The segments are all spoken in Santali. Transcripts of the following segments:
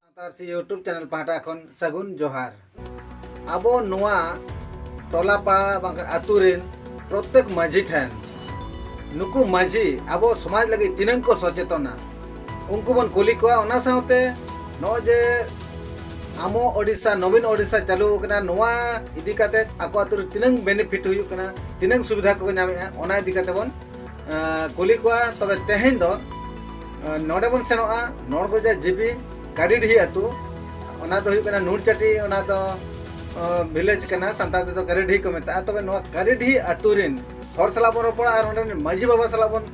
ᱥᱟᱱᱛᱟᱲ ᱥᱤ ᱭᱩᱴᱩᱵᱽ ᱪᱮᱱᱮᱞ ᱯᱟᱦᱴᱟ ᱠᱷᱚᱱ ᱥᱟᱹᱜᱩᱱ ᱡᱚᱦᱟᱨ ᱟᱵᱚ ᱱᱚᱣᱟ ᱴᱚᱞᱟ ᱯᱟᱲᱟ ᱵᱟᱝ ᱟᱛᱳ ᱨᱮᱱ ᱯᱨᱚᱛᱮᱠ ᱢᱟᱹᱡᱷᱤ ᱴᱷᱮᱱ ᱱᱩᱠᱩ ᱢᱟᱹᱡᱷᱤ ᱟᱵᱚ ᱥᱚᱢᱟᱡᱽ ᱞᱟᱹᱜᱤᱫ ᱛᱤᱱᱟᱹᱝ ᱠᱚ ᱥᱚᱪᱮᱛᱚᱱᱟ ᱩᱱᱠᱩ ᱵᱚᱱ ᱠᱩᱞᱤ ᱠᱚᱣᱟ ᱚᱱᱟ ᱥᱟᱶᱛᱮ ᱱᱚᱜᱼᱚᱭ ᱡᱮ ᱟᱢᱚ ᱳᱰᱤᱥᱟ ᱱᱚᱵᱤᱱ ᱳᱰᱤᱥᱟ ᱪᱟᱹᱞᱩ ᱟᱠᱟᱱᱟ ᱱᱚᱣᱟ ᱤᱫᱤ ᱠᱟᱛᱮ ᱟᱠᱚ ᱟᱛᱳ ᱨᱮ ᱛᱤᱱᱟᱹᱝ ᱵᱮᱱᱤᱯᱷᱤᱴ ᱦᱩᱭᱩᱜ ᱠᱟᱱᱟ ᱛᱤᱱᱟᱹᱝ ᱥᱩᱵᱤᱫᱷᱟ ᱠᱚ ᱧᱟᱢᱮᱜᱼᱟ ᱚᱱᱟ ᱤᱫᱤ ᱠᱟᱛᱮ ᱵᱚᱱ ᱠᱩᱞᱤ ᱠᱚᱣᱟ ᱛᱚᱵᱮ ᱛᱮᱦᱮᱧ ᱫᱚ ᱱᱚᱰᱮ ᱵᱚᱱ ᱥᱮᱱᱚᱜᱼᱟ ᱱᱚᱲᱜᱚᱡᱟ ᱡᱤᱵᱤ ᱠᱟᱰᱤᱰᱤᱦᱤ ᱟᱛᱳ ᱚᱱᱟ ᱫᱚ ᱦᱩᱭᱩᱜ ᱠᱟᱱᱟ ᱱᱩᱲᱪᱟᱴᱤ ᱚᱱᱟ ᱫᱚ ᱵᱷᱤᱞᱮᱡᱽ ᱠᱟᱱᱟ ᱥᱟᱱᱛᱟᱲ ᱛᱮᱫᱚ ᱠᱟᱰᱤᱰᱤᱦᱤ ᱠᱚ ᱢᱮᱛᱟᱜᱼᱟ ᱛᱚᱵᱮ ᱱᱚᱣᱟ ᱠᱟᱰᱤᱰᱤᱦᱤ ᱟᱛᱳ ᱨᱮᱱ ᱦᱚᱲ ᱥᱟᱞᱟᱜ ᱵᱚᱱ ᱨᱚᱯᱚᱲᱟ ᱟᱨ ᱚᱸᱰᱮ ᱢᱟᱹᱡᱷᱤ ᱵᱟᱵᱟ ᱥᱟᱞᱟᱜ ᱵᱚᱱ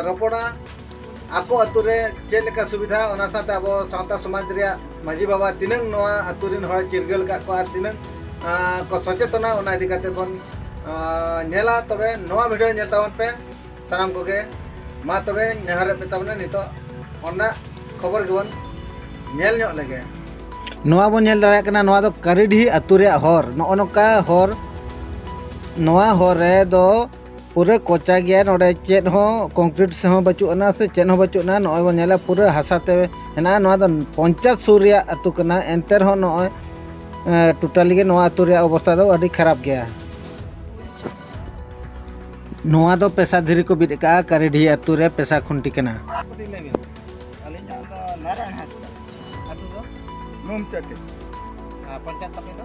ᱨᱚᱯᱚᱲᱟ ᱟᱠᱚ ᱟᱛᱳ ᱨᱮ ᱪᱮᱫ ᱞᱮᱠᱟ ᱥᱩᱵᱤᱫᱷᱟ ᱚᱱᱟ ᱥᱟᱶᱛᱮ ᱟᱵᱚ ᱥᱟᱶᱛᱟ ᱥᱚᱢᱟᱡᱽ ᱨᱮᱭᱟᱜ ᱢᱟᱹᱡᱷᱤ ᱵᱟᱵᱟ ᱛᱤᱱᱟᱹᱝ ᱱᱚᱣᱟ ᱟᱛᱳ ᱨᱮᱱ ᱦᱚᱲ ᱪᱤᱨᱜᱟᱹᱞ ᱟᱠᱟᱫ ᱠᱚᱣᱟ ᱟᱨ ᱛᱤᱱᱟᱹᱝ ᱠᱚ ᱥᱚᱪᱮᱛᱚᱱᱟ ᱚᱱᱟ ᱤᱫᱤ ᱠᱟᱛᱮ ᱵᱚᱱ ᱧᱮᱞᱟ ᱛᱚᱵᱮ ᱱᱚᱣᱟ ᱵᱷᱤᱰᱤᱭᱳ ᱧᱮᱞ ᱛᱟᱵᱚᱱ ᱯᱮ ᱥᱟᱱᱟᱢ ᱠᱚᱜᱮ ᱢᱟ ᱛᱚᱵᱮ ᱱᱮᱦᱚᱨᱮᱫ ᱯᱮ ᱛᱟᱵᱚᱱᱟ ᱱᱤᱛᱚᱜ ᱚᱱᱟ ᱠᱷᱚᱵᱚᱨ ᱜᱮᱵᱚᱱ ᱧᱮᱞ ᱧᱚᱜ ᱞᱮᱜᱮ ᱱᱚᱣᱟ ᱵᱚᱱ ᱧᱮᱞ ᱫᱟᱲᱮᱭᱟᱜ ᱠᱟᱱᱟ ᱱᱚᱣᱟ ᱫᱚ ᱠᱟᱨᱤᱰᱤᱦᱤ ᱟᱛᱳ ᱨᱮᱭᱟᱜ ᱦᱚᱨ ᱱᱚᱜᱼᱚ ᱱᱚᱝᱠᱟ ᱦᱚᱨ ᱱᱚᱣᱟ ᱦᱚᱨ ᱨᱮᱫᱚ ᱯᱩᱨᱟᱹ ᱠᱚᱪᱟ ᱜᱮᱭᱟ ᱱᱚᱰᱮ ᱪᱮᱫ ᱦᱚᱸ ᱠᱚᱝᱠᱨᱤᱴ ᱥᱮ ᱦᱚᱸ ᱵᱟᱹᱪᱩᱜ ᱟᱱᱟ ᱥᱮ ᱪᱮᱫ ᱦᱚᱸ ᱵᱟᱹᱪᱩᱜ ᱟᱱᱟ ᱱᱚᱜᱼᱚᱭ ᱵᱚᱱ ᱧᱮᱞᱟ ᱯᱩᱨᱟᱹ ᱦᱟᱥᱟ ᱛᱮ ᱦᱮᱱᱟᱜᱼᱟ ᱱᱚᱣᱟ ᱫᱚ ᱯᱚᱧᱪᱟᱭᱮᱛ ᱥᱩᱨ ᱨᱮᱭᱟᱜ ᱟᱹᱛᱩ ᱠᱟᱱᱟ ᱮᱱᱛᱮ ᱨᱮᱦᱚᱸ ᱱᱚᱜᱼᱚᱭ ᱴᱳᱴᱟᱞᱤ ᱜᱮ ᱱᱚᱣᱟ ᱟᱹᱛᱩ ᱨᱮᱭᱟᱜ ᱚᱵᱚᱥᱛᱟ ᱫᱚ ᱟᱹᱰᱤ ᱠᱷᱟᱨᱟᱯ ᱜᱮᱭᱟ ᱱᱚᱣᱟ ᱫᱚ ᱯᱮᱥᱟ ᱫᱷᱤᱨᱤ ᱠᱚ ᱵᱤᱫ ᱟᱠᱟᱜᱼᱟ ᱠᱟᱨᱤᱰᱷᱤ ᱟᱹᱛᱩ ᱨᱮ ᱯᱮᱥᱟ ᱠᱷᱩᱱᱴᱤ ᱠᱟᱱᱟ ᱱᱚᱢᱪᱟᱴᱮ ᱯᱚᱧᱪᱟᱭᱮᱛ ᱛᱟᱯᱮ ᱫᱚ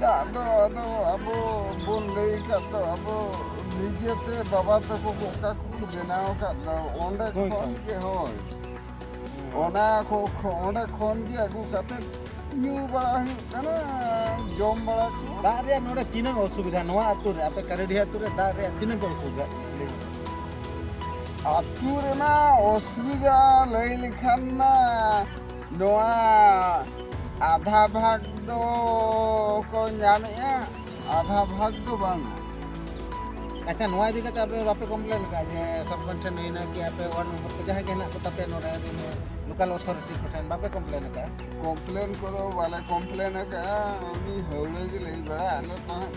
ᱫᱟᱜ ᱫᱚ ᱟᱫᱚ ᱟᱵᱚ ᱵᱚᱱ ᱞᱟᱹᱭ ᱟᱠᱟᱫ ᱫᱚ ᱟᱵᱚ ᱱᱤᱡᱮᱛᱮ ᱵᱟᱵᱟ ᱛᱟᱠᱚ ᱠᱚ ᱚᱠᱟ ᱠᱚᱠᱚ ᱵᱮᱱᱟᱣ ᱟᱠᱟᱫ ᱫᱚ ᱚᱸᱰᱮ ᱦᱳᱭ ᱠᱷᱚᱱ ᱛᱚ᱾ ᱜᱮ ᱦᱳᱭ ᱚᱱᱟ ᱠᱚ ᱠᱷᱚ- ᱚᱸᱰᱮ ᱠᱷᱚᱱ ᱜᱮ ᱟᱹᱜᱩ ᱠᱟᱛᱮᱫ ᱧᱩ ᱵᱟᱲᱟ ᱦᱩᱭᱩᱜ ᱠᱟᱱᱟ ᱡᱚᱢ ᱵᱟᱲᱟ ᱠᱚ ᱫᱟᱜ ᱨᱮᱭᱟᱜ ᱱᱚᱰᱮ ᱛᱤᱱᱟᱹᱜ ᱚᱥᱩᱵᱤᱫᱷᱟ ᱱᱚᱣᱟ ᱟᱹᱛᱩ ᱨᱮ ᱟᱯᱮ ᱠᱟᱨᱮᱰᱤ ᱟᱹᱛᱩ ᱨᱮ ᱫᱟᱜ ᱨᱮᱭᱟᱜ ᱛᱤᱱᱟᱹᱜ ᱯᱮ ᱚᱥᱩᱵᱤᱫᱷᱟ ᱟᱹᱛᱩ ᱨᱮᱢᱟ ᱚᱥᱩᱵᱤᱫᱟ ᱞᱟᱹᱭ ᱞᱮᱠᱷᱟᱱ ᱢᱟ ᱱᱚᱣᱟ ᱟᱫᱷᱟ ᱵᱷᱟᱜᱽ ᱫᱚ ᱠᱚ ᱧᱟᱢᱮᱜᱼᱟ ᱟᱫᱷᱟ ᱵᱷᱟᱜᱽ ᱫᱚ ᱵᱟᱝ ᱟᱪᱪᱷᱟ ᱱᱚᱣᱟ ᱤᱫᱤ ᱠᱟᱛᱮ ᱟᱯᱮ ᱵᱟᱯᱮ ᱠᱚᱢᱯᱞᱮᱱ ᱠᱟᱜᱼᱟ ᱡᱮ ᱥᱚᱨᱯᱚᱧᱪ ᱴᱷᱮᱱ ᱦᱩᱭᱱᱟ ᱠᱤ ᱟᱯᱮ ᱣᱟᱨᱰ ᱢᱮᱢᱵᱟᱨ ᱠᱚ ᱡᱟᱦᱟᱸᱭ ᱜᱮ ᱦᱮᱱᱟᱜ ᱠᱚ ᱛᱟᱯᱮ ᱱᱚᱰᱮ ᱞᱳᱠᱟᱞ ᱚᱛᱷᱚᱨᱤᱴᱤ ᱠᱚ ᱴᱷᱮᱱ ᱵᱟᱯᱮ ᱠᱚᱢᱯᱞᱮᱱ ᱠᱟᱜᱼᱟ ᱠᱚᱢᱯᱞᱮᱱ ᱠᱚᱫᱚ ᱵᱟᱞᱮ ᱠᱚᱢᱯᱞᱮᱱ ᱠᱟᱜᱼᱟ ᱩᱱᱤ ᱦᱟᱹᱣᱲᱟᱹ ᱜᱮ ᱞᱟᱹᱭ ᱵᱟᱲᱟ ᱟᱞᱮ ᱛᱟᱦᱮᱸᱫ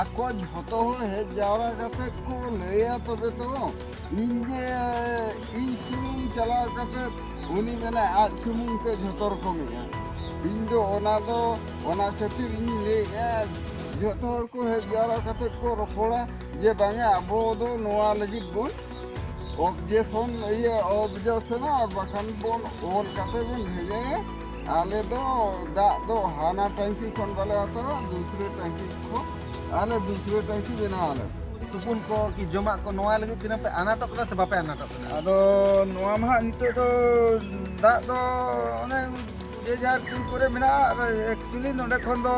ᱟᱠᱚ ᱡᱷᱚᱛᱚ ᱦᱚᱲ ᱦᱮᱡ ᱡᱟᱣᱨᱟ ᱠᱟᱛᱮ ᱠᱚ ᱞᱟᱹᱭᱟ ᱛᱚᱵᱮ ᱛᱚ ᱤᱧ ᱡᱮ ᱤᱧ ᱥᱩᱢᱩᱝ ᱪᱟᱞᱟᱣ ᱠᱟᱛᱮ ᱩᱱᱤ ᱢᱮᱱᱟ ᱟᱡ ᱥᱩᱢᱩᱝ ᱛᱮ ᱡᱷᱚᱛᱚ ᱨᱚᱠᱚᱢᱮᱜᱼᱟ ᱤᱧ ᱫᱚ ᱚᱱᱟ ᱫᱚ ᱚᱱᱟ ᱠᱷᱟᱹᱛᱤᱨ ᱤᱧ ᱞᱟᱹᱭᱮᱜᱼᱟ ᱡᱷᱚᱛᱚ ᱦᱚᱲ ᱠᱚ ᱦᱮᱡ ᱡᱟᱣᱨᱟ ᱠᱟᱛᱮ ᱠᱚ ᱨᱚᱯᱚᱲᱟ ᱡᱮ ᱵᱟᱝᱟ ᱟᱵᱚ ᱫᱚ ᱱᱚᱣᱟ ᱞᱟᱹᱜᱤᱫ ᱵᱚᱱ ᱚᱵᱽᱡᱮᱠᱥᱚᱱ ᱤᱭᱟᱹ ᱚᱵᱽᱡᱮᱠᱥᱚᱱᱟ ᱟᱨ ᱵᱟᱠᱷᱟᱱ ᱵᱚᱱ ᱚᱞ ᱠᱟᱛᱮ ᱵᱚᱱ ᱵᱷᱮᱡᱟᱭᱟ ᱟᱞᱮ ᱫᱚ ᱫᱟᱜ ᱫᱚ ᱦᱟᱱᱟ ᱴᱟᱝᱠᱤ ᱠᱷᱚᱱ ᱵᱟᱞᱮ ᱦᱟᱛᱟᱣᱟ ᱫᱩᱥᱨᱮ ᱴᱟᱝᱠᱤ ᱠᱷᱚᱱ ᱟᱞᱮ ᱫᱩᱥᱨᱮ ᱴᱟᱝᱠᱤ ᱵᱮᱱᱟᱣ ᱟᱞᱮ ᱛᱩᱯᱩᱱ ᱠᱚ ᱠᱤ ᱡᱚᱢᱟᱜ ᱠᱚ ᱱᱚᱣᱟ ᱞᱟᱹᱜᱤᱫ ᱛᱤᱱᱟᱹᱜ ᱯᱮ ᱟᱱᱟᱴᱚᱜ ᱠᱟᱱᱟ ᱥᱮ ᱵᱟᱯᱮ ᱟᱱᱟᱴᱚᱜ ᱠᱟᱱᱟ ᱟᱫᱚ ᱱᱚᱣᱟ ᱢᱟ ᱦᱟᱸᱜ ᱱᱤᱛᱚᱜ ᱫᱚ ᱫᱟᱜ ᱫᱚ ᱚᱱᱮ ᱡᱮ ᱡᱟᱦᱟᱸ ᱠᱩᱧ ᱠᱚᱨᱮ ᱢᱮᱱᱟᱜᱼᱟ ᱟᱨ ᱮᱠᱪᱩᱭᱮᱞᱤ ᱱᱚᱰᱮ ᱠᱷᱚᱱ ᱫᱚ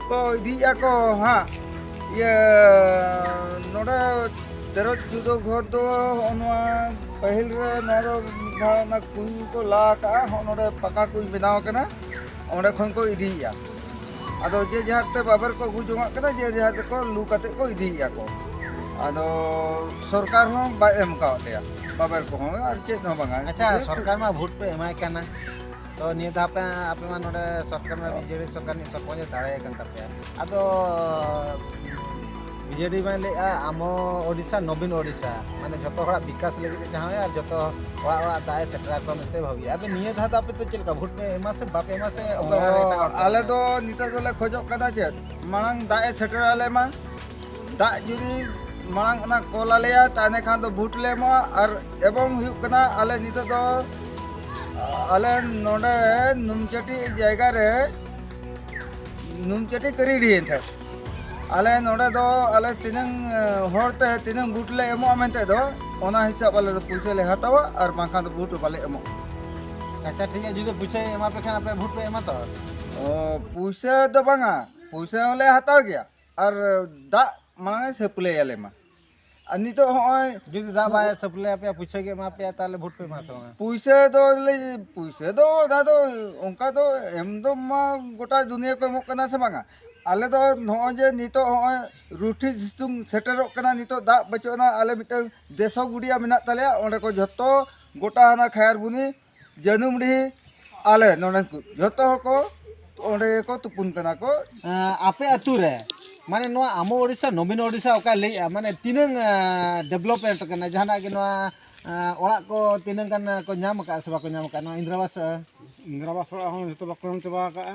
ᱠᱚ ᱤᱫᱤᱭᱮᱫᱼᱟ ᱠᱚ ᱦᱟᱸᱜ ᱤᱭᱟᱹ ᱱᱚᱰᱮ ᱛᱮᱨᱚᱡ ᱡᱩᱫᱟᱹ ᱜᱷᱚᱨ ᱫᱚ ᱦᱚᱜᱼᱚ ᱱᱚᱣᱟ ᱯᱟᱹᱦᱤᱞ ᱨᱮ ᱱᱚᱣᱟ ᱫᱚ ᱢᱤᱫ ᱫᱷᱟᱣ ᱚᱱᱟ ᱠᱩᱧ ᱠᱚ ᱞᱟ ᱟᱠᱟᱜᱼᱟ ᱦᱚᱜᱼᱚ ᱱᱚᱰᱮ ᱯᱟᱠᱟ ᱠᱩᱧ ᱵᱮᱱᱟᱣ ᱟᱠᱟᱱᱟ ᱚᱸᱰᱮ ᱠᱷᱚᱱ ᱠᱚ ᱤᱫᱤᱭᱮᱫᱼᱟ ᱟᱫᱚ ᱡᱮ ᱡᱟᱦᱟᱨ ᱛᱮ ᱵᱟᱵᱮᱨ ᱠᱚ ᱟᱹᱜᱩ ᱡᱚᱝᱟᱜ ᱠᱟᱱᱟ ᱡᱮ ᱡᱟᱦᱟᱨ ᱛᱮᱠᱚ ᱞᱩ ᱠᱟᱛᱮ ᱠᱚ ᱤᱫᱤᱭᱮᱫᱼᱟ ᱠᱚ ᱟᱫᱚ ᱥᱚᱨᱠᱟᱨ ᱦᱚᱸ ᱵᱟᱭ ᱮᱢ ᱠᱟᱣᱟᱫ ᱞᱮᱭᱟ ᱵᱟᱵᱮᱨ ᱠᱚᱦᱚᱸ ᱟᱨ ᱪᱮᱫ ᱦᱚᱸ ᱵᱟᱝᱟ ᱟᱪᱪᱷᱟ ᱥᱚᱨᱠᱟᱨ ᱢᱟ ᱵᱷᱳᱴ ᱯᱮ ᱮᱢᱟᱭ ᱠᱟᱱᱟ ᱛᱚ ᱱᱤᱭᱟᱹ ᱫᱷᱟᱣ ᱯᱮ ᱟᱯᱮ ᱢᱟ ᱱᱚᱰᱮ ᱥᱚᱨᱠᱟᱨ ᱢᱟ ᱵᱤᱡᱮᱰᱤ ᱥᱚᱨᱠᱟᱨ ᱱᱤᱡ ᱥᱚᱨᱯᱚᱧᱡᱽ ᱫᱟᱲᱮ ᱠᱟᱱ ᱛᱟᱯᱮᱭᱟ ᱟᱫᱚ ᱵᱤᱡᱮᱰᱤ ᱢᱟᱭ ᱞᱟᱹᱭᱮᱜᱼᱟ ᱟᱢᱚ ᱳᱰᱤᱥᱟ ᱱᱚᱵᱤᱱ ᱳᱰᱤᱥᱟ ᱢᱟᱱᱮ ᱡᱚᱛᱚ ᱦᱚᱲᱟᱜ ᱵᱤᱠᱟᱥ ᱞᱟᱹᱜᱤᱫ ᱮ ᱪᱟᱦᱟᱣᱮᱜᱼᱟ ᱟᱨ ᱡᱚᱛᱚ ᱚᱲᱟᱜ ᱚᱲᱟᱜ ᱫᱟᱜ ᱮ ᱥᱮᱴᱮᱨ ᱟᱠᱚᱣᱟ ᱢᱮᱱᱛᱮ ᱵᱷᱟᱹᱵᱤ ᱟᱫᱚ ᱱᱤᱭᱟᱹ ᱫᱷᱟᱣ ᱫᱚ ᱟᱯᱮ ᱫᱚ ᱪᱮᱫ ᱞᱮᱠᱟ ᱵᱷᱳᱴ ᱯᱮ ᱮᱢᱟ ᱥᱮ ᱵᱟᱯᱮ ᱮᱢᱟ ᱥᱮ ᱟᱞᱮ ᱫᱚ ᱱᱤᱛᱚᱜ ᱫᱚᱞᱮ ᱠᱷᱚᱡᱚᱜ ᱠᱟᱱᱟ ᱪᱮᱫ ᱢᱟᱲᱟᱝ ᱫᱟᱜ ᱮ ᱥᱮᱴᱮᱨ ᱟᱞᱮ ᱢᱟ ᱫᱟᱜ ᱡᱩᱫᱤ ᱢᱟᱲᱟᱝ ᱚᱱᱟ ᱠᱚᱞ ᱟᱞᱮᱭᱟ ᱛᱟᱦᱚᱞᱮ ᱠᱷᱟᱱ ᱫᱚ ᱵᱷᱳᱴ ᱞᱮ ᱮᱢᱚᱜᱼᱟ ᱟᱨ ᱮᱵᱚᱝ ᱦᱩᱭᱩᱜ ᱠᱟᱱᱟ ᱟᱞᱮ ᱱᱤᱛᱚᱜ ᱫᱚ ᱟᱞᱮ ᱱᱚᱰᱮ ᱱᱩᱢᱪᱟᱹᱴᱤ ᱡᱟᱭᱜᱟ ᱨᱮ ᱱᱩᱢᱪᱟᱹᱴᱤ ᱠᱟᱹᱨᱤᱰᱤ ᱮᱱᱛᱮ ᱟᱞᱮ ᱱᱚᱰᱮ ᱫᱚ ᱟᱞᱮ ᱛᱤᱱᱟᱹᱝ ᱦᱚᱲ ᱛᱮ ᱛᱤᱱᱟᱹᱝ ᱵᱷᱳᱴ ᱞᱮ ᱮᱢᱚᱜᱼᱟ ᱢᱮᱱᱛᱮ ᱫᱚ ᱚᱱᱟ ᱦᱤᱥᱟᱹᱵ ᱟᱞᱮ ᱫᱚ ᱯᱩᱭᱥᱟᱹ ᱞᱮ ᱦᱟᱛᱟᱣᱟ ᱟᱨ ᱵᱟᱝᱠᱷᱟᱱ ᱫᱚ ᱵᱷᱳᱴ ᱵᱟᱞᱮ ᱮᱢᱚᱜᱼᱟ ᱟᱪᱪᱷᱟ ᱴᱷᱤᱠ ᱜᱮᱭᱟ ᱡᱩᱫᱤ ᱯᱩᱭᱥᱟᱹ ᱮᱢᱟ ᱯᱮ ᱠᱷᱟᱱ ᱟᱯᱮ ᱵᱷᱳᱴ ᱯᱮ ᱮᱢᱟ ᱛᱚ ᱯᱩᱭᱥᱟᱹ ᱫᱚ ᱵᱟᱝᱟ ᱯᱩᱭᱥᱟᱹ ᱦᱚᱸᱞᱮ ᱦᱟᱛᱟᱣ ᱜᱮᱭᱟ ᱟᱨ ᱫᱟᱜ ᱢᱟᱲᱟᱝ ᱮ ᱥᱟᱹᱯᱞᱟᱹᱭ ᱟᱞᱮ ᱢᱟ ᱟᱨ ᱱᱤᱛᱚᱜ ᱦᱚᱸᱜᱼᱚᱭ ᱡᱩᱫᱤ ᱫᱟᱜ ᱵᱟᱭ ᱥᱟᱹᱯᱞᱟᱹᱭ ᱟᱯᱮᱭᱟ ᱯᱩᱭᱥᱟᱹ ᱜᱮ ᱮᱢᱟ ᱯᱮᱭᱟ ᱛᱟᱦᱚᱞᱮ ᱵᱷᱳᱴ ᱯᱮ ᱮᱢᱟ ᱥᱮ ᱵᱟᱝ ᱯᱩᱭᱥᱟᱹ ᱫᱚ ᱯᱩᱭᱥᱟᱹ ᱫᱚ ᱚᱱᱟ ᱫᱚ ᱚᱱᱠᱟ ᱫᱚ ᱮᱢ ᱫᱚ ᱢᱟ ᱜᱚᱴᱟ ᱫᱩᱱᱤᱭᱟᱹ ᱠᱚ ᱮᱢᱚᱜ ᱠᱟᱱᱟ ᱥᱮ ᱵᱟᱝᱟ ᱟᱞᱮ ᱫᱚ ᱱᱚᱜᱼᱚᱭ ᱡᱮ ᱱᱤᱛᱚᱜ ᱦᱚᱸᱜᱼᱚᱭ ᱨᱩᱴᱷᱤ ᱥᱤᱛᱩᱝ ᱥᱮᱴᱮᱨᱚᱜ ᱠᱟᱱᱟ ᱱᱤᱛᱚᱜ ᱫᱟᱜ ᱵᱟᱹᱪᱩᱜ ᱟᱱᱟ ᱟᱞᱮ ᱢᱤᱫᱴᱟᱝ ᱫᱮᱥᱚ ᱜᱩᱰᱤᱭᱟ ᱢᱮᱱᱟᱜ ᱛᱟᱞᱮᱭᱟ ᱚᱸᱰᱮ ᱠᱚ ᱡᱷᱚᱛᱚ ᱜᱚᱴᱟ ᱚᱱᱟ ᱠᱷᱟᱭᱟᱨᱵᱚᱱᱤ ᱡᱟᱹᱱᱩᱢᱰᱤ ᱟᱞᱮ ᱱᱚᱰᱮ ᱡᱚᱛᱚ ᱦᱚᱲ ᱠᱚ ᱚᱸᱰᱮ ᱜᱮᱠᱚ ᱛᱩᱯᱩᱱ ᱠᱟᱱᱟ ᱠᱚ ᱟᱯᱮ ᱟᱹᱛᱩ ᱨᱮ ᱢᱟᱱᱮ ᱱᱚᱣᱟ ᱟᱢᱚ ᱳᱰᱤᱥᱟ ᱱᱚᱵᱤᱱ ᱳᱰᱤᱥᱟ ᱚᱠᱟ ᱞᱟᱹᱭᱮᱜᱼᱟ ᱢᱟᱱᱮ ᱛᱤᱱᱟᱹᱝ ᱰᱮᱵᱷᱞᱚᱯᱢᱮᱱᱴ ᱠᱟᱱᱟ ᱡᱟᱦᱟᱱᱟᱜ ᱜᱮ ᱱᱚᱣᱟ ᱚᱲᱟᱜ ᱠᱚ ᱛᱤᱱᱟᱹᱝ ᱜᱟᱱ ᱠᱚ ᱧᱟᱢ ᱠᱟᱜᱼᱟ ᱥᱮ ᱵᱟᱠᱚ ᱧᱟᱢ ᱠᱟᱜᱼᱟ ᱱᱚᱣᱟ ᱤᱱᱫᱨᱟᱵᱟᱥ ᱤᱱᱫᱨᱟᱵᱟᱥ ᱚᱲᱟᱜ ᱦᱚᱸ ᱡᱚᱛᱚ ᱵᱟᱠᱚ ᱮᱢ ᱪᱟᱵᱟ ᱠᱟᱜᱼᱟ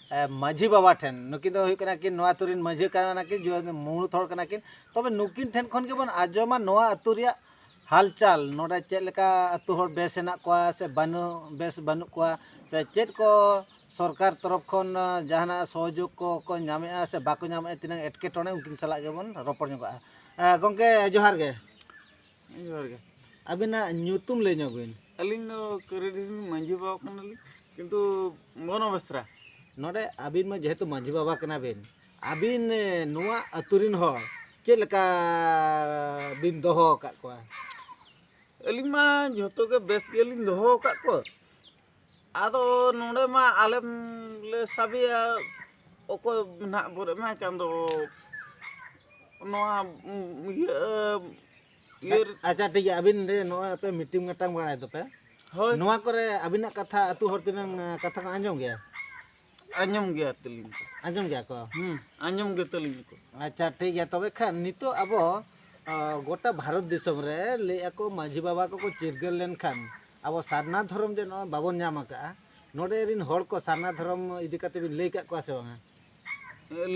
ᱢᱟᱹᱡᱷᱤ ᱵᱟᱵᱟ ᱴᱷᱮᱱ ᱱᱩᱠᱤᱱ ᱫᱚ ᱦᱩᱭᱩᱜ ᱠᱟᱱᱟ ᱠᱤᱱ ᱱᱚᱣᱟ ᱟᱛᱳ ᱨᱤᱱ ᱢᱟᱹᱡᱷᱤ ᱠᱟᱱᱟ ᱠᱤᱱ ᱢᱩᱬᱩᱛ ᱦᱚᱲ ᱠᱟᱱᱟ ᱠᱤᱱ ᱛᱚᱵᱮ ᱱᱩᱠᱤᱱ ᱴᱷᱮᱱ ᱠᱷᱚᱱ ᱜᱮᱵᱚᱱ ᱟᱸᱡᱚᱢᱟ ᱱᱚᱣᱟ ᱟᱛᱳ ᱨᱮᱭᱟᱜ ᱦᱟᱞᱪᱟᱞ ᱱᱚᱰᱮ ᱪᱮᱫ ᱞᱮᱠᱟ ᱟᱛᱳ ᱦᱚᱲ ᱵᱮᱥ ᱦᱮᱱᱟᱜ ᱠᱚᱣᱟ ᱥᱮ ᱵᱟᱹᱱᱩᱜ ᱵᱮᱥ ᱵᱟᱹᱱᱩᱜ ᱠᱚᱣᱟ ᱥᱮ ᱪᱮᱫ ᱠᱚ ᱥᱚᱨᱠᱟᱨ ᱛᱚᱨᱚᱯ ᱠᱷᱚᱱ ᱡᱟᱦᱟᱱᱟᱜ ᱥᱚᱦᱚᱡᱳᱜᱽ ᱠᱚᱠᱚ ᱧᱟᱢᱮᱜᱼᱟ ᱥᱮ ᱵᱟᱠᱚ ᱧᱟᱢᱮᱜᱼᱟ ᱛᱤᱱᱟᱹᱜ ᱮᱴᱠᱮᱴᱚᱬᱮ ᱩᱱᱠᱤᱱ ᱥᱟᱞᱟᱜ ᱜᱮᱵᱚᱱ ᱨᱚᱯᱚᱲ ᱧᱚᱜᱚᱜᱼᱟ ᱜᱚᱢᱠᱮ ᱡᱚᱦᱟᱨ ᱜᱮ ᱡᱚᱦᱟᱨ ᱜᱮ ᱟᱵᱤᱱᱟᱜ ᱧᱩᱛᱩᱢ ᱞᱟᱹᱭ ᱧᱚᱜ ᱵᱤᱱ ᱟᱹᱞᱤᱧ ᱫᱚ ᱠᱟᱹᱨᱤᱰᱤ ᱢᱟᱺᱡᱷᱤ ᱵᱟᱵᱟ ᱠᱟᱱᱟᱞᱤᱧ ᱠᱤᱱᱛᱩ ᱢᱚᱱᱚ ᱵᱮᱥᱨᱟ ᱱᱚᱰᱮ ᱟᱹᱵᱤᱱ ᱢᱟ ᱡᱮᱦᱮᱛᱩ ᱢᱟᱺᱡᱷᱤ ᱵᱟᱵᱟ ᱠᱟᱱᱟ ᱵᱤᱱ ᱟᱹᱵᱤᱱ ᱱᱚᱣᱟ ᱟᱹᱛᱩ ᱨᱤᱱ ᱦᱚᱲ ᱪᱮᱫ ᱞᱮᱠᱟ ᱵᱤᱱ ᱫᱚᱦᱚ ᱟᱠᱟᱫ ᱠᱚᱣᱟ ᱟᱹᱞᱤᱧ ᱢᱟ ᱡᱚᱛᱚ ᱜᱮ ᱵᱮᱥ ᱜᱮᱞᱤᱧ ᱫᱚᱦᱚ ᱟᱠᱟᱫ ᱠᱚᱣᱟ ᱟᱫᱚ ᱱᱚᱰᱮ ᱢᱟ ᱟᱞᱮᱢ ᱞᱮ ᱥᱟᱵᱮᱭᱟ ᱚᱠᱚᱭ ᱱᱟᱜ ᱵᱚᱱ ᱮᱢᱟᱭ ᱠᱟᱱ ᱫᱚ ᱱᱚᱣᱟ ᱤᱭᱟᱹ ᱤᱭᱟᱹ ᱟᱪᱪᱷᱟ ᱴᱷᱤᱠ ᱜᱮᱭᱟ ᱟᱹᱵᱤᱱ ᱨᱮ ᱱᱚᱜᱼᱚᱭ ᱟᱯᱮ ᱢᱤᱴᱤᱝ ᱢᱤᱴᱟᱝ ᱵᱟᱲᱟᱭ ᱫᱚᱯᱮ ᱦᱳᱭ ᱱᱚᱣᱟ ᱠᱚᱨᱮ ᱟᱹᱵᱤᱱᱟᱜ ᱠᱟᱛᱷᱟ ᱟᱹᱛᱩ ᱦᱚᱲ ᱛᱤᱱᱟᱹᱝ ᱠᱟᱛᱷᱟ ᱠᱚ ᱟᱸᱡᱚᱢ ᱜᱮᱭᱟ ᱟᱸᱡᱚᱢ ᱜᱮᱭᱟ ᱛᱟᱹᱞᱤᱧ ᱠᱚ ᱟᱸᱡᱚᱢ ᱜᱮᱭᱟ ᱠᱚ ᱦᱩᱸ ᱟᱸᱡᱚᱢ ᱜᱮ ᱛᱟᱹᱞᱤᱧ ᱠᱚ ᱟᱪᱪᱷᱟ ᱴᱷᱤᱠ ᱜᱮᱭᱟ ᱛᱚᱵᱮ ᱠᱷᱟᱱ ᱱᱤᱛᱚᱜ ᱟᱵᱚ ᱟ, ᱜᱚᱴᱟ ᱵᱷᱟᱨᱚᱛ ᱫᱤᱥᱚᱢ ᱨᱮ ᱞᱟᱹᱭ ᱟᱠᱚ ᱢᱟᱺᱡᱷᱤ ᱵᱟᱵᱟ ᱠᱚᱠᱚ ᱪᱤᱨᱜᱟᱹᱞ ᱞᱮᱱᱠᱷᱟᱱ ᱟᱵᱚ ᱥᱟᱨᱱᱟ ᱫᱷᱚᱨᱚᱢ ᱡᱮ ᱱᱚᱜᱼᱚᱭ ᱵᱟᱵᱚᱱ ᱧᱟᱢ ᱟᱠᱟᱜᱼᱟ ᱱᱚᱰᱮ ᱨᱤᱱ ᱦᱚᱲ ᱠᱚ ᱥᱟᱨᱱᱟ ᱫᱷᱚᱨᱚᱢ ᱤᱫᱤ ᱠᱟᱛᱮ ᱵᱤᱱ ᱞᱟᱹᱭ ᱠᱟᱜ ᱠᱚᱣᱟ ᱥᱮ ᱵᱟᱝᱟ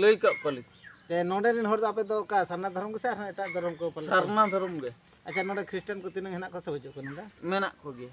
ᱞᱟᱹᱭ ᱠᱟᱜ ᱠᱚᱣᱟᱞᱤᱧ ᱛᱮ ᱱᱚᱰᱮ ᱨᱤᱱ ᱦᱚᱲ ᱫᱚ ᱟᱯᱮ ᱫᱚ ᱚᱠᱟ ᱥᱟᱨᱱᱟ ᱫᱷᱚᱨᱚᱢ ᱜᱮᱥᱮ ᱟᱨᱦᱚᱸ ᱮᱴᱟᱜ ᱫᱷᱚᱨᱚᱢ ᱠᱚ ᱯᱟᱞᱚᱱ ᱥᱟᱨᱱᱟ ᱫᱷᱚᱨᱚᱢ ᱜᱮ ᱟᱪᱪᱷᱟ ᱱᱚᱰᱮ ᱠᱷᱨᱤᱥᱴᱟᱱ ᱠᱚ ᱛᱤᱱᱟᱹᱝ ᱦᱮᱱᱟᱜ ᱠᱚᱣᱟ ᱥᱮ ᱵᱟᱹᱪᱩᱜ ᱠᱚᱣᱟ ᱱᱚᱰᱮ ᱢᱮᱱᱟᱜ ᱠᱚᱜᱮᱭᱟ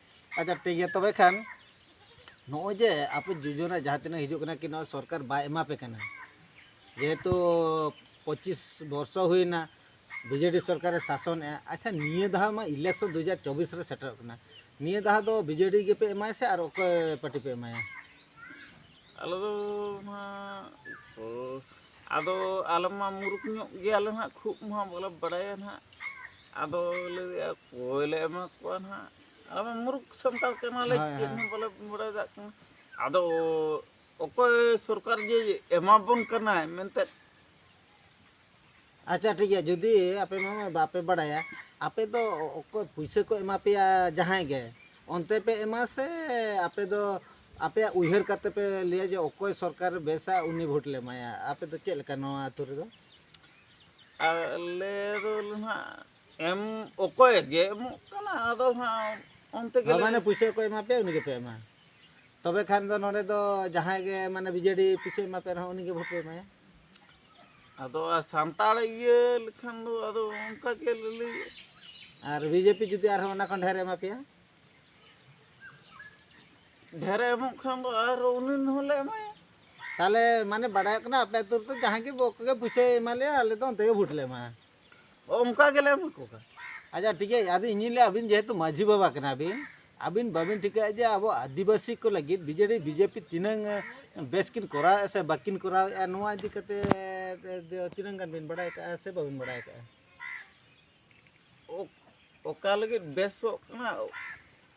ᱟᱪᱪᱷᱟ ᱴᱷᱤᱠ ᱜᱮᱭᱟ ᱛᱚᱵᱮ ᱠᱷᱟᱱ ᱱᱚᱜᱼᱚᱭ ᱡᱮ ᱟᱯᱮ ᱡᱳᱡᱚᱱᱟ ᱡᱟᱦᱟᱸ ᱛᱤᱱᱟᱹᱜ ᱦᱤᱡᱩᱜ ᱠᱟᱱᱟ ᱠᱤ ᱱᱚᱣᱟ ᱥᱚᱨᱠᱟᱨ ᱵᱟᱭ ᱮᱢᱟ ᱯᱮ ᱠᱟᱱᱟ ᱡᱮᱦᱮᱛᱩ ᱯᱚᱸᱪᱤᱥ ᱵᱚᱨᱥᱚ ᱦᱩᱭᱱᱟ ᱵᱤᱡᱮᱰᱤ ᱥᱚᱨᱠᱟᱨᱮ ᱥᱟᱥᱚᱱᱮᱜᱼᱟ ᱟᱪᱪᱷᱟ ᱱᱤᱭᱟᱹ ᱫᱷᱟᱣ ᱢᱟ ᱤᱞᱮᱠᱥᱚᱱ ᱫᱩ ᱦᱟᱡᱟᱨ ᱪᱚᱵᱵᱤᱥ ᱨᱮ ᱥᱮᱴᱮᱨᱚᱜ ᱠᱟᱱᱟ ᱱᱤᱭᱟᱹ ᱫᱷᱟᱣ ᱫᱚ ᱵᱤᱡᱮᱰᱤ ᱜᱮᱯᱮ ᱮᱢᱟᱭᱟ ᱥᱮ ᱟᱨ ᱚᱠᱚᱭ ᱯᱟᱨᱴᱤ ᱯᱮ ᱮᱢᱟᱭᱟ ᱟᱞᱮ ᱫᱚ ᱱᱟᱦᱟᱜ ᱟᱫᱚ ᱟᱞᱮ ᱢᱟ ᱢᱩᱨᱩᱠ ᱧᱚᱜ ᱜᱮᱭᱟᱞᱮ ᱱᱟᱦᱟᱜ ᱠᱷᱩᱵ ᱢᱟ ᱵᱟᱞᱮ ᱵᱟᱲᱟᱭᱟ ᱱᱟᱦᱟᱜ ᱟᱫᱚ ᱞᱮ ᱞᱟᱹᱭᱮᱫᱼᱟ ᱚᱠᱚᱭ ᱞᱮ ᱮᱢᱟ ᱠᱚᱣᱟ ᱱᱟᱦᱟᱜ ᱟᱞᱮ ᱢᱟ ᱢᱩᱨᱩᱠ ᱥᱟᱱᱛᱟᱲ ᱠᱟᱱᱟᱞᱮ ᱪᱮᱫ ᱦᱚᱸ ᱵᱟᱞᱮ ᱵᱟᱲᱟᱭ ᱫᱟᱲᱮᱭᱟᱜ ᱠᱟᱱᱟ ᱟᱫᱚ ᱚᱠᱚᱭ ᱥᱚᱨᱠᱟᱨ ᱡᱮ ᱮᱢᱟ ᱵᱚᱱ ᱠᱟᱱᱟᱭ ᱢᱮᱱᱛᱮ ᱟᱪᱪᱷᱟ ᱴᱷᱤᱠ ᱜᱮᱭᱟ ᱡᱩᱫᱤ ᱟᱯᱮ ᱢᱟ ᱵᱟᱯᱮ ᱵᱟᱲᱟᱭᱟ ᱟᱯᱮ ᱫᱚ ᱚᱠᱚᱭ ᱯᱩᱭᱥᱟᱹ ᱠᱚ ᱮᱢᱟ ᱯᱮᱭᱟ ᱡᱟᱦᱟᱸᱭ ᱜᱮ ᱚᱱᱛᱮ ᱯᱮ ᱮᱢᱟ ᱥᱮ ᱟᱯᱮ ᱫᱚ ᱟᱯᱮᱭᱟᱜ ᱩᱭᱦᱟᱹᱨ ᱠᱟᱛᱮ ᱯᱮ ᱞᱟᱹᱭᱟ ᱡᱮ ᱚᱠᱚᱭ ᱥᱚᱨᱠᱟᱨ ᱵᱮᱥᱟ ᱩᱱᱤ ᱵᱷᱳᱴ ᱞᱮ ᱮᱢᱟᱭᱟ ᱟᱯᱮ ᱫᱚ ᱪᱮᱫ ᱞᱮᱠᱟ ᱱᱚᱣᱟ ᱟᱹᱛᱩ ᱨᱮᱫᱚ ᱟᱞᱮ ᱫᱚ ᱱᱟᱦᱟᱜ ᱮᱢ ᱚᱠᱚᱭ ᱜᱮ ᱮᱢᱚᱜ ᱠᱟᱱᱟ ᱟᱫᱚ ᱱᱟᱦᱟᱜ ᱚᱱᱛᱮ ᱜᱮ ᱢᱟᱱᱮ ᱯᱩᱭᱥᱟᱹ ᱠᱚ ᱮᱢᱟ ᱯᱮᱭᱟ ᱩᱱᱤ ᱜᱮᱯᱮ ᱮᱢᱟ ᱛᱚᱵᱮ ᱠᱷᱟᱱ ᱫᱚ ᱱᱚᱰᱮ ᱫᱚ ᱡᱟᱦᱟᱸᱭ ᱜᱮ ᱢᱟᱱᱮ ᱵᱤᱡᱮᱰᱤ ᱯᱩᱭᱥᱟᱹ ᱮᱢᱟ ᱯᱮ ᱨᱮᱦᱚᱸ ᱩᱱᱤ ᱜᱮ ᱵᱷᱳᱴ ᱯᱮ ᱮᱢᱟᱭᱟ ᱟᱫᱚ ᱥᱟᱱᱛᱟᱲ ᱤᱭᱟᱹ ᱞᱮᱠᱷᱟᱱ ᱫᱚ ᱟᱫᱚ ᱚᱱᱠᱟ ᱜᱮ ᱞᱟᱹᱞᱟᱹᱭ ᱟᱨ ᱵᱤᱡᱮᱯᱤ ᱡᱩᱫᱤ ᱟᱨᱦᱚᱸ ᱚᱱᱟ ᱠᱷᱚᱱ ᱰᱷᱮᱨ ᱮᱢᱟ ᱯᱮᱭᱟ ᱰᱷᱮᱨ ᱮᱢᱚᱜ ᱠᱷᱟᱱ ᱫᱚ ᱟᱨᱦᱚᱸ ᱩᱱᱤ ᱦᱚᱸᱞᱮ ᱮᱢᱟᱭᱟ ᱛᱟᱦᱚᱞᱮ ᱢᱟᱱᱮ ᱵᱟᱰᱟᱭᱚᱜ ᱠᱟᱱᱟ ᱟᱯᱮ ᱟᱹᱛᱩ ᱨᱮᱫᱚ ᱡᱟᱦᱟᱸᱭ ᱜᱮ ᱵᱚᱠᱚᱜᱮ ᱯᱩᱭᱥᱟᱹᱭ ᱮᱢᱟ ᱞᱮᱭᱟ ᱟᱞᱮ ᱫᱚ ᱚᱱᱛᱮ ᱜᱮ ᱵᱷᱳᱴ ᱞᱮ ᱮᱢᱟ ᱚᱱᱠᱟ ᱜᱮᱞᱮ ᱮᱢᱟ ᱠᱚ ᱠᱟᱱᱟ ᱟᱪᱪᱷᱟ ᱴᱷᱤᱠ ᱜᱮᱭᱟ ᱟᱫᱚ ᱤᱧᱤᱧ ᱞᱟᱹᱭᱟ ᱟᱹᱵᱤᱱ ᱡᱮᱦᱮᱛᱩ ᱢᱟᱹᱡᱷᱤ ᱵᱟᱵᱟ ᱠᱟᱱᱟ ᱵᱤᱱ ᱟᱹᱵᱤᱱ ᱵᱟᱹᱵᱤᱱ ᱴᱷᱤᱠᱟᱹᱭᱟ ᱡᱮ ᱟᱵᱚ ᱟᱹᱫᱤᱵᱟᱹᱥᱤ ᱠᱚ ᱞᱟᱹᱜᱤᱫ ᱵᱤᱡᱮᱰᱤ ᱵᱤᱡᱮᱯᱤ ᱛᱤᱱᱟᱹᱝ ᱵᱮᱥ ᱠᱤᱱ ᱠᱚᱨᱟᱣᱮᱫᱼᱟ ᱥᱮ ᱵᱟᱹᱠᱤᱱ ᱠᱚᱨᱟᱣᱮᱫᱼᱟ ᱱᱚᱣᱟ ᱤᱫᱤ ᱠᱟᱛᱮ ᱛᱤᱱᱟᱹᱝ ᱜᱟᱱ ᱵᱤᱱ ᱵᱟᱲᱟᱭ ᱠᱟᱜᱼᱟ ᱥᱮ ᱵᱟᱹᱵᱤᱱ ᱵᱟᱲᱟᱭ ᱠᱟᱜᱼᱟ ᱚᱠᱟ ᱞᱟᱹᱜᱤᱫ ᱵᱮᱥᱚᱜ ᱠᱟᱱᱟ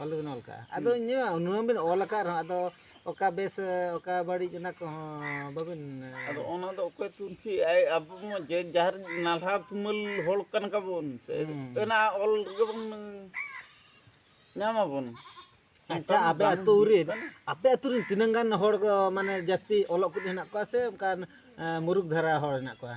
ᱚᱞ ᱫᱚᱵᱤᱱ ᱚᱞ ᱠᱟᱜᱼᱟ ᱟᱫᱚ ᱤᱧᱟᱹᱜ ᱩᱱᱟᱹᱝ ᱵᱤᱱ ᱚᱞ ᱟᱠᱟᱫ ᱨᱮᱦᱚᱸ ᱟᱫᱚ ᱚᱠᱟ ᱵᱮᱥ ᱚᱠᱟ ᱵᱟᱹᱲᱤᱡ ᱚᱱᱟ ᱠᱚᱦᱚᱸ ᱵᱟᱹᱵᱤᱱ ᱟᱫᱚ ᱚᱱᱟ ᱫᱚ ᱚᱠᱚᱭ ᱛᱩᱱᱠᱷᱤ ᱟᱭ ᱟᱵᱚ ᱢᱟ ᱡᱮ ᱡᱟᱦᱟᱨ ᱱᱟᱞᱦᱟ ᱛᱩᱢᱟᱹᱞ ᱦᱚᱲ ᱠᱟᱱ ᱠᱟᱵᱚᱱ ᱥᱮ ᱚᱱᱟ ᱚᱞ ᱜᱮᱵᱚᱱ ᱧᱟᱢᱟᱵᱚᱱ ᱟᱪᱪᱷᱟ ᱟᱯᱮ ᱟᱹᱛᱩ ᱨᱤᱱ ᱟᱯᱮ ᱟᱹᱛᱩ ᱨᱤᱱ ᱛᱤᱱᱟᱹᱝ ᱜᱟᱱ ᱦᱚᱲ ᱢᱟᱱᱮ ᱡᱟᱹᱥᱛᱤ ᱚᱞᱚᱜ ᱠᱚ ᱦᱮᱱᱟᱜ ᱠᱚᱣᱟ ᱥᱮ ᱚᱱᱠᱟᱱ ᱢᱩᱨᱩᱠ ᱫᱷᱟᱨᱟ ᱦᱚᱲ ᱦᱮᱱᱟᱜ ᱠᱚᱣᱟ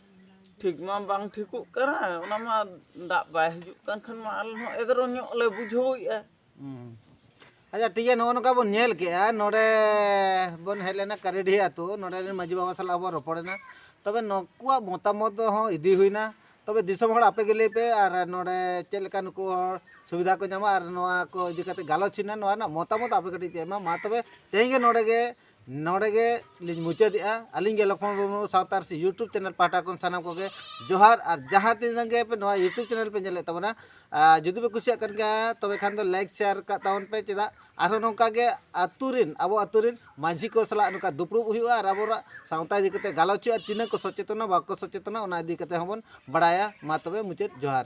ᱴᱷᱤᱠ ᱢᱟ ᱵᱟᱝ ᱴᱷᱤᱠᱚᱜ ᱠᱟᱱᱟ ᱚᱱᱟ ᱢᱟ ᱫᱟᱜ ᱵᱟᱭ ᱦᱤᱡᱩᱜ ᱠᱟᱱ ᱠᱷᱟᱱ ᱢᱟ ᱟᱞᱮ ᱦᱚᱸ ᱮᱫᱽᱨᱮ ᱧᱚᱜ ᱞᱮ ᱵᱩᱡᱷᱟᱹᱣᱮᱫᱼᱟ ᱟᱪᱪᱷᱟ ᱴᱷᱤᱠ ᱜᱮᱭᱟ ᱱᱚᱜᱼᱚ ᱱᱚᱝᱠᱟ ᱵᱚᱱ ᱧᱮᱞ ᱠᱮᱜᱼᱟ ᱱᱚᱰᱮ ᱵᱚᱱ ᱦᱮᱡ ᱞᱮᱱᱟ ᱠᱟᱨᱤᱰᱤᱦᱤ ᱟᱛᱳ ᱱᱚᱰᱮ ᱨᱮᱱ ᱢᱟᱺᱡᱷᱤ ᱵᱟᱵᱟ ᱥᱟᱞᱟᱜ ᱵᱚᱱ ᱨᱚᱯᱚᱲᱮᱱᱟ ᱛᱚᱵᱮ ᱱᱩᱠᱩᱣᱟᱜ ᱢᱚᱛᱟᱢᱚᱛ ᱦᱚᱸ ᱤᱫᱤ ᱦᱩᱭᱱᱟ ᱛᱚᱵᱮ ᱫᱤᱥᱚᱢ ᱦᱚᱲ ᱟᱯᱮ ᱜᱮ ᱞᱟᱹᱭ ᱯᱮ ᱟᱨ ᱱᱚᱰᱮ ᱪᱮᱫ ᱞᱮᱠᱟ ᱱᱩᱠᱩ ᱦᱚᱲ ᱥᱩᱵᱤᱫᱷᱟ ᱠᱚ ᱧᱟᱢᱟ ᱟᱨ ᱱᱚᱣᱟ ᱠᱚ ᱤᱫᱤ ᱠᱟᱛᱮ ᱜᱟᱞᱚᱪ ᱦᱩᱭᱱᱟ ᱱᱚᱣᱟ ᱨᱮᱱᱟᱜ ᱢᱚᱛᱟᱢᱚᱛ ᱟᱯᱮ ᱠᱟᱹᱴᱤᱡ ᱯᱮ ᱮᱢᱟ ᱢᱟ ᱛᱚᱵᱮ ᱛᱮᱦᱮᱧ ᱜᱮ ᱱᱚᱰᱮ ᱜᱮ ᱱᱚᱰᱮ ᱜᱮ ᱞᱤᱧ ᱢᱩᱪᱟᱹᱫᱮᱜᱼᱟ ᱟᱹᱞᱤᱧ ᱜᱮ ᱞᱚᱠᱷᱢᱚᱱ ᱢᱩᱨᱢᱩ ᱥᱟᱶᱛᱟ ᱟᱹᱨᱥᱤ ᱤᱭᱩᱴᱩᱵᱽ ᱪᱮᱱᱮᱞ ᱯᱟᱦᱴᱟ ᱠᱷᱚᱱ ᱥᱟᱱᱟᱢ ᱠᱚᱜᱮ ᱡᱚᱦᱟᱨ ᱟᱨ ᱡᱟᱦᱟᱸ ᱛᱤᱱᱟᱹᱜ ᱜᱮ ᱯᱮ ᱱᱚᱣᱟ ᱤᱭᱩᱴᱩᱵᱽ ᱪᱮᱱᱮᱞ ᱯᱮ ᱧᱮᱞᱮᱫ ᱛᱟᱵᱚᱱᱟ ᱡᱩᱫᱤ ᱯᱮ ᱠᱩᱥᱤᱭᱟᱜ ᱠᱟᱱ ᱜᱮᱭᱟ ᱛᱚᱵᱮ ᱠᱷᱟᱱ ᱫᱚ ᱞᱟᱭᱤᱠ ᱥᱮᱭᱟᱨ ᱠᱟᱜ ᱛᱟᱵᱚᱱ ᱯᱮ ᱪᱮᱫᱟᱜ ᱟᱨᱦᱚᱸ ᱱᱚᱝᱠᱟ ᱜᱮ ᱟᱹᱛᱩ ᱨᱮᱱ ᱟᱵᱚ ᱟᱹᱛᱩ ᱨᱮᱱ ᱢᱟᱹᱡᱷᱤ ᱠᱚ ᱥᱟᱞᱟᱜ ᱱᱚᱝᱠᱟ ᱫᱩᱯᱲᱩᱵ ᱦᱩᱭᱩᱜᱼᱟ ᱟᱨ ᱟᱵᱚᱣᱟᱜ ᱥᱟᱶᱛᱟ ᱤᱫᱤ ᱠᱟᱛᱮ ᱜᱟᱞᱚᱪ ᱦᱩᱭᱩᱜᱼᱟ ᱛᱤᱱᱟᱹᱜ ᱠᱚ ᱥᱚᱪᱮᱛᱚᱱᱟ ᱵᱟᱠᱚ ᱥᱚᱪᱮᱛᱚᱱᱟ ᱚᱱᱟ ᱤᱫᱤ ᱠᱟᱛᱮ ᱦᱚᱸᱵᱚᱱ ᱵᱟᱲᱟᱭᱟ ᱢᱟ ᱛᱚᱵᱮ ᱢᱩᱪᱟᱹᱫ ᱡᱚᱦᱟᱨ